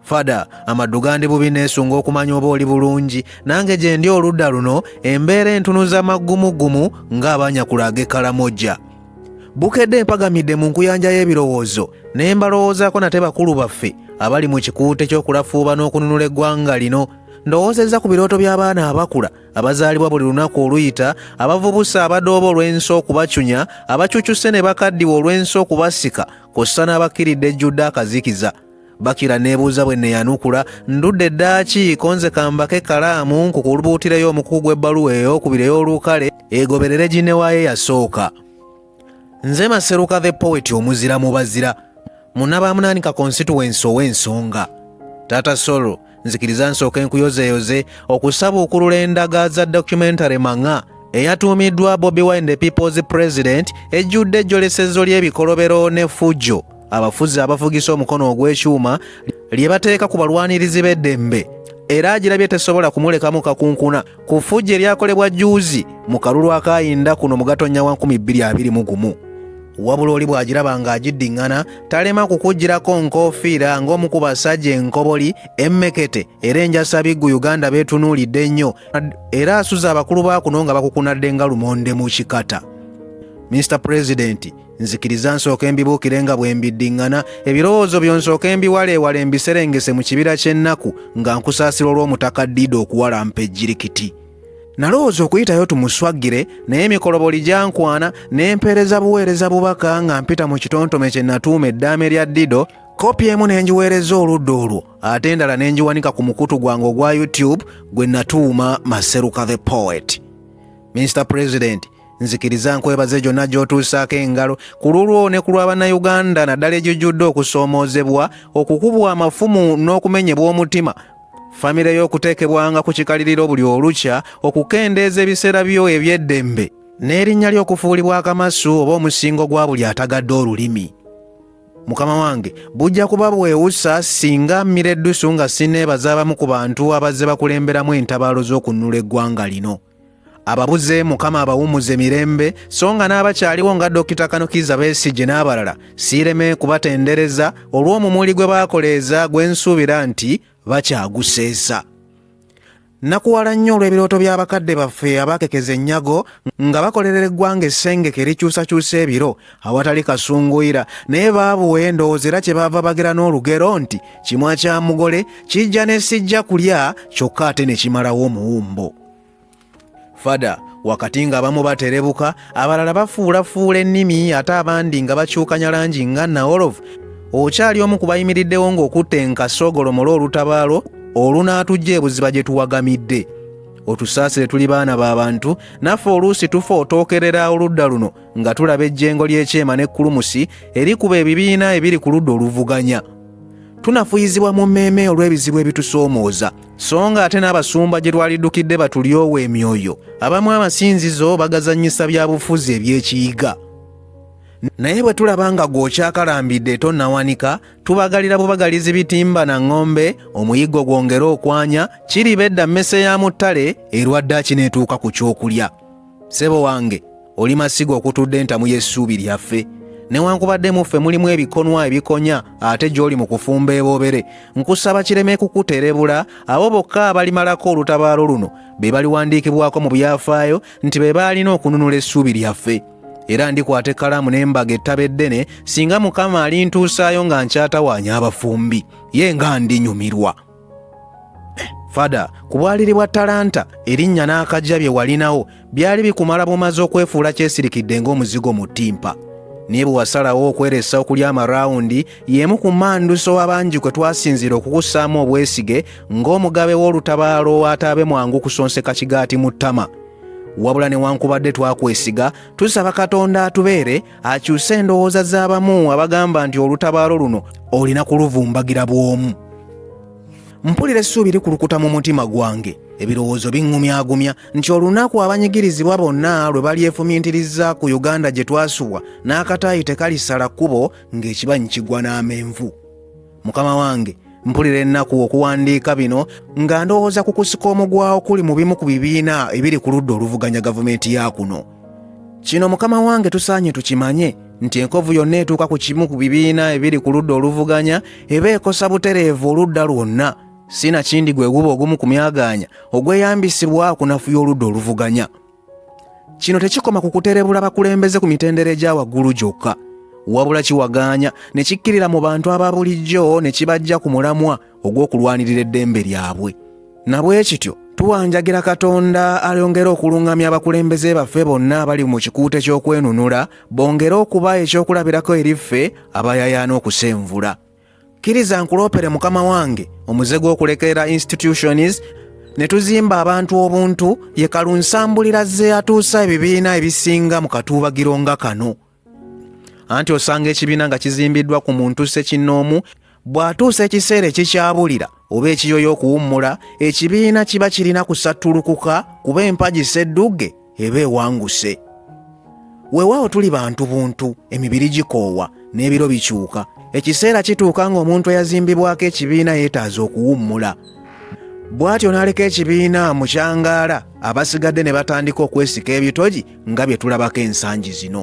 fada amaddu gandi bubi neesunga okumanya oba oli bulungi nange gye ndi oludda luno embeera entunuza maggumuggumu ng'abanyakula ag'ekalamoja bukedde empagamidde mu nkuyanja y'ebirowoozo ne mbalowoozaako nate bakulu baffe abali mu kikuute ky'okulafuuba n'okununula eggwanga lino ndowoozezza ku birooto by'abaana abakula abazaalibwa buli lunaku oluyita abavubusa abadooba olw'ensi okubacunya abacucuse ne bakaddiwa olw'ensi okubasika kw'ossa n'abakkiridde ejjudde akazikiza bakira neebuuza bwe neyanukula ndudde eddaaki konze kambako ekkalaamu nkukulubuutireyo omukuku gw'ebbaluwa ey'okubiri ey'olukale egoberere ginewaayo yasooka nze maseruka the poet omuzira mu bazira munabaamunaanika konsituwensi ow'ensonga taata solo nzikiriza nsooke nkuyozeeyoze okusabuukulula endaga za documentary mang'a eyatuumiddwa bobi wine the people's president ejjudde ejjolesezo ly'ebikolobero ne fujjo abafuzi abafugisa omukono ogw'ekyuma lye bateeka ku balwanirizi b'eddembe era agirabye tesobola kumulekamu kakunkuna ku ffujjo eryakolebwa jjuuzi mu kalulu akaayinda kuno mu gatonnya wa 221 wabula oli bw'agiraba ng'agiddiŋŋana talema kukugirako nkoofiira ng'omu ku basajja enkoboli emmekete era enjasabiggu uganda beetunuulidde ennyo era asuza abakulu ba kuno nga bakukunadde nga lumonde mu kikata mr pulezidenti nzikiriza nsooke mbibuukire nga bwe mbiddiŋŋana ebirowoozo byo nsooke mbiwaleewale mbiserengese mu kibira ky'ennaku nga nkusaasira olw'omutaka diida okuwalampa ejjirikiti nalowooza okuyitayo tumuswagire naye emikoloboli gyankwana ne mpeereza buweereza bubaka nga mpita mu kitontome kye natuuma eddaame lya dido kopi emu ne ngiweereza oludda olwo ate endala ne ngiwanika ku mukutu gwange ogwa youtube gwe natuuma maseruka the poet mr president nzikiriza nkwebaze gyonna gy'otuusaako engalo ku lulwo ne ku lwa bannayuganda naddala egijjudde okusoomoozebwa okukubwa amafumu n'okumenyebwa omutima famire y'okuteekebwanga ku kikaliriro buli olukya okukendeeza ebiseera byo eby'eddembe n'erinnya ly'okufuulibwa akamasu oba omusingo gwa buli atagadde olulimi mukama wange bujja kuba bwewusa singa mmira eddusu nga sineebaza abamu ku bantu abazze bakulemberamu entabaalo z'okunnula eggwanga lino ababuze mukama abawumuze mirembe so nga n'abakyaliwo nga dokita kanukiza besigye n'abalala siireme kubatendereza olw'omumuli gwe baakoleeza gwe nsuubira nti bakyaguseesa nakuwala nnyo olw'ebirooto by'abakadde baffe abaakekeza ennyago nga bakolerera eggwanga essengeke likyusakyusa ebiro awatali kasunguyira naye baabuwa endowooza era kyebaava bagera n'olugero nti kimwa kya mugole kijja ne sijja kulya kyokka ate ne kimalawo omuwumbo fada wakati ng'abamu baterebuka abalala bafuulafuula ennimi ate abandi nga bakyukanya langi nga naolovu okyali omu ku bayimiriddewo ng'okutte enkasogolomole olutabaalo olunaatujja ebuziba gye tuwagamidde otusaasire tuli baana ba bantu naffe oluusi tufa otookerera oludda luno nga tulaba ejjengo ly'ekyema ne kulumusi erikuba ebibiina ebiri ku ludda oluvuganya tunafuyizibwa mu mmeeme olw'ebizibu ebitusoomooza so nga ate n'abasumba gye twaliddukidde batulyowa emyoyo abamu amasinzizo bagazannyisa bya bufuzi eby'ekiyiga naye bwe tulaba nga gw'okyakalambidde tonnawanika tubagalira bubagalizi bitimba na ŋŋombe omuyiggo gwongere okwanya kiriba edda mmese ya mu ttale erwadde akineetuuka ku ky'okulya sebo wange oli masiga okutudde entamu y'essuubi lyaffe newankubadde mu ffe mulimu ebikonwa ebikonya ate gy'oli mu kufumba eboobere nkusaba kireme kukuterebula abo bokka abalimalako olutabaalo luno be baliwandiikibwako mu byafaayo nti be baalina okununula essuubi lyaffe era ndikwata ekkalaamu n'embaga ettaba eddene singa mukama alintuusaayo nga nkyatawaanya abafumbi ye nga ndinyumirwa fada ku bwaliri bwa talanta erinnya n'akajja bye walinawo byali bikumala bumaze okwefuula kyesirikidde ng'omuzigo mu ttimpa naye bwe wasalawo okweresa okulya amarawundi y'emu ku manduso abangi kwe twasinziira okukussaamu obwesige ng'omugabe w'olutabaalo ataabe mwangu kusonseka kigaati mu ttama wabula newankubadde twakwesiga tusaba katonda atubeere akyuse endowooza z'abamu abagamba nti olutabaalo luno olina kuluvumbagira bw'omu mpulira essuubi likulukuta mu mutima gwange ebirowoozo biŋŋumyagumya nti olunaku abanyigirizibwa bonna lwe balyefumintiriza ku uganda gye twasubwa n'akataayi tekalisala kkubo ng'ekibanyi kigwa n'amenvu mukama wange mpulira ennaku okuwandiika bino nga ndowooza ku kusika omugwawo kuli mu bimu ku bibiina ebiri ku ludda oluvuganya gavumenti ya kuno kino mukama wange tusaanye tukimanye nti enkovu yonna etuuka ku kimu ku bibiina ebiri ku ludda oluvuganya eba ekosa butereevu oludda lwonna si nakindi gwe guba ogumu ku myagaanya ogweyambisibwa okunafuya oludda oluvuganya kino tekikoma ku kuterebula bakulembeze ku mitendera egya waggulu gyokka wabula kiwagaanya ne kikkirira mu bantu aba bulijjo ne kibajja ku mulamwa ogw'okulwanirira eddembe lyabwe na bwe kityo tuwanjagira katonda alyongere okuluŋŋamya abakulembeze baffe bonna abali mu kikuuta eky'okwenunula bongere okuba ekyokulabirako eri ffe abayayaana okusenvula Kkiriza nkuloopere mukama wange omuze gw'okulekerera institutions ne tuzimba abantu obuntu ye kalunsambulira ze yatuusa ebibiina ebisinga mu katuubagiro nga kano anti osanga ekibiina nga kizimbiddwa ku muntu ssekinnoomu bw'atuusa ekiseera ekikyabulira oba ekiyoyo okuwummula ekibiina kiba kirina kusattulukuka kuba empagi seddugge eba ewanguse weewaawo tuli bantu buntu emibiri gikoowa n'ebiro bikyuka ekiseera kituuka ng'omuntu eyazimbibwako ekibiina yeetaaza okuwummula bw'atyo n'aleka ekibiina mu kyangaala abasigadde ne batandika okwesika ebitogi nga bye tulabako ensangi zino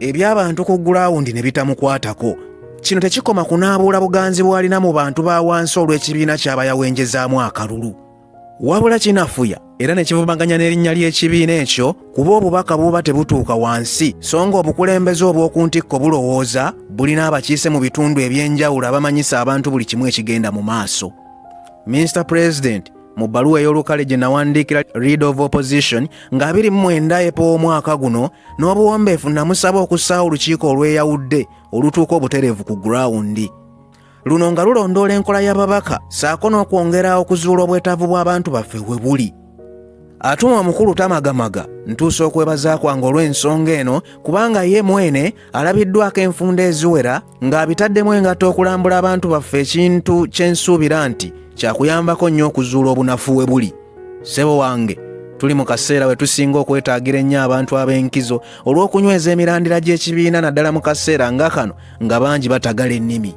eby'abantu ku gulawundi ne bitamukwatako kino tekikoma kunaabuula buganzi bw'alina mu bantu ba wansi olw'ekibiina ky'aba yawenjezaamu akalulu wabula kinafuya era ne kivumaganya n'erinnya ly'ekibiina ekyo kuba obubaka buba tebutuuka wansi so nga obukulembeze obw'oku ntikko bulowooza bulina abakiise mu bitundu eby'enjawulo abamanyisa abantu buli kimu ekigenda mu maaso minisita pulezidenti mu bbaluwa ey'olukale gye nawandiikira read of opposition nga 29 epa omwaka guno n'obuwombeefu namusaba okussaawo olukiiko olweyawudde olutuuka obutereevu ku gurawundi luno nga lulondoola enkola y'ababaka saako n'okwongera okuzuula obwetaavu bw'abantu baffe we buli atuma omukulu tamagamaga ntuusa okwebaza kwange olw'ensonga eno kubanga ye mwene alabiddwako enfunda eziwera ng'abitaddemu engatto okulambula abantu baffe ekintu kye nsuubira nti kyakuyambako nnyo okuzuula obunafu we buli ssebo wange tuli mu kaseera we tusinga okwetaagira ennyo abantu ab'enkizo olw'okunyweza emirandira gy'ekibiina naddala mu kaseera nga kano nga bangi batagala ennimi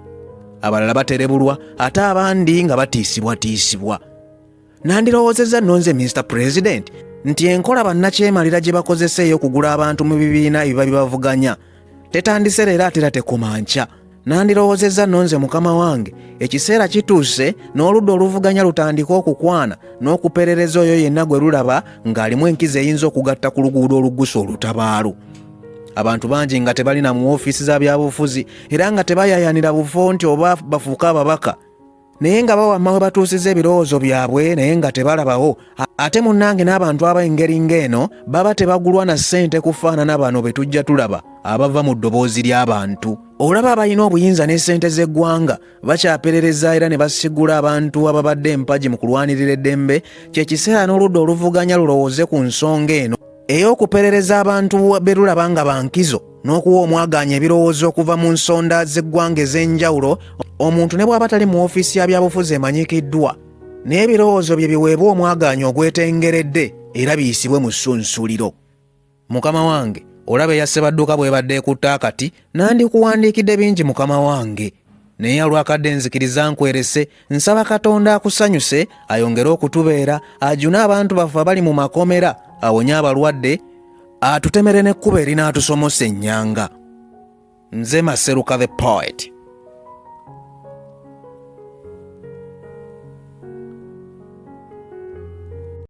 abalala baterebulwa ate abandi nga batiisibwatiisibwa nandirowoozezza nno nze minisita pulezidenti nti enkola bannakyemalira gye bakozesa ey'okugula abantu mu bibiina ebiba bibavuganya tetandise leero ate era tekoma nkya nandirowoozezza nno nze mukama wange ekiseera kituuse n'oludda oluvuganya lutandike okukwana n'okuperereza oyo yenna gwe lulaba ng'alimu enkizi eyinza okugatta ku luguudo olugusa olutabaalo abantu bangi nga tebalina mu ofiisi za byabufuzi era nga tebayayanira bufo nti oba bafuuke ababaka naye nga bawamma we batuusiza ebirowoozo byabwe naye nga tebalabawo ate munnange n'abantu ab'engeri ng'eno baba tebagulwa na ssente kufaanana bano be tujja tulaba abava mu ddoboozi ly'abantu olaba abalina obuyinza ne ssente z'eggwanga bakyaperereza era ne basigula abantu ababadde empagi mu kulwanirira eddembe kye kiseera n'oludda oluvuganya lulowooze ku nsonga eno ey'okuperereza abantu berulaba nga bankizo n'okuwa omwagaanya ebirowoozo okuva mu nsonda z'eggwanga ez'enjawulo omuntu ne bw'aba tali mu ofiisi ya byabufuzi emanyikiddwa n'ebirowoozo bye biweebwa omwagaanya ogwetengeredde era biyisibwe mu ssunsuliro mukama wange olaba eyasebadduka bwebadde ekutte akati nandikuwandiikidde bingi mukama wange naye olwakadde nzikiriza nkwerese nsaba katonda akusanyuse ayongere okutubeera ajune abantu baffe abali mu makomera awonye abalwadde atutemere n'ekkuba erin'atusomosa ennyanga nze maseruka the poet